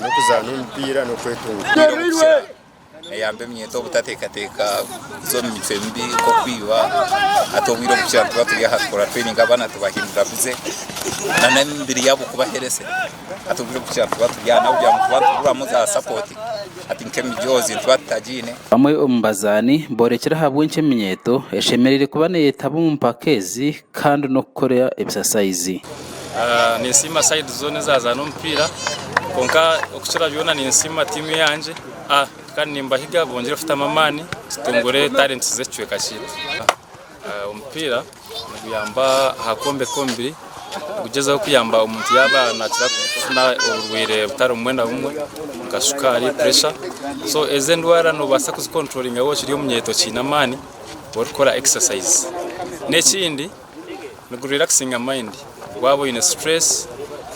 n'okuzaana omupiira n'okwetunga. Omupiira omu kukira neyamba eminyeeto obutateekateeka kuza omu mitwe mibi nk'okwiba. Hati obwire obu tukira nituba turi aha tukora training abaana tubahindura busy na n'emibiri yaabo kuba healthy. Hati obwire obu tukira nituba turi aha n'ahabw'okugira ngu nituba nituguramu za support hati nk'emijoozi nituba tutagiine. Bamwe omu bazaani boorekire ahabw'enki eminyeeto eshemereire kuba neeyetaba omu mpaka ezi kandi n'okukora ebisasaizi. Ninsiima sayidi zoona ezaazaana omupiira kwonka okukira byona ninsiima tiimu yangye kandi nimbahiga bongyere kutamu amaani tutungure talenti z'ekicweka kyaitu. Omupiira niguyamba aha kwombeka omubiri, nigugyezaho kuyamba omuntu yaaba naakira kufuna oburwaire butari bumwe na bumwe nka shukaari, puresha so ezo endwara noobaasa kuzikonturolinga waaba okiri omunyeeto okiine amaani. orikukora exercise nekindi nigurwera kusinga mind waba oyine stress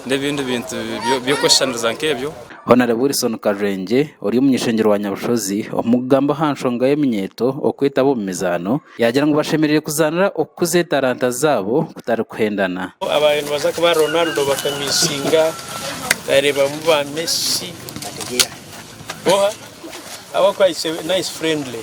nebindi bintu byokweshushaniriza nkebyo. Hon Wilson Karurengye ori omunyeshengye rwa Nyabushozi omukugamba ahanshonga yeminyeeto okwetaba omu mizaano yagira ngu bashemereire kuzaanira okukuza etaranta zaabo kutari kuhendana. Abaye nibaza nka ba Ronaldo bakamisinga nareebamu ba Messi boha ahabwokuba it's a nice friendly.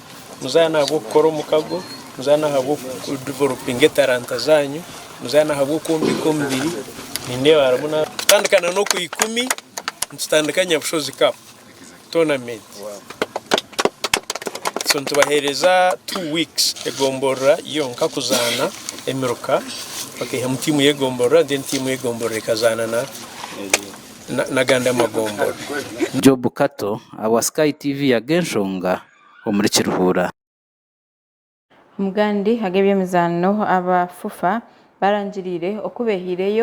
Muzaane ahabw'okukora omukago, muzaane ahabw'okudevelopinga etaranta zaanyu, muzaane ahabw'okwombeka omubiri, nindeeba harimu na kutandika na n'okwa ikumi nitutandika Nyabushozi Cup tournament. So nitubaheereza two weeks egomborora yonka kuzaana emiruka, bakaihamu tiimu y'egomborora then tiimu y'egomborora ekazaana na. n'agandi amagombori. Job Kato awa Sky TV ya Genshonga omuri Kiruhura. Omu gandi ag'eby'emizaano aba FUFA barangiriire oku beehaireyo.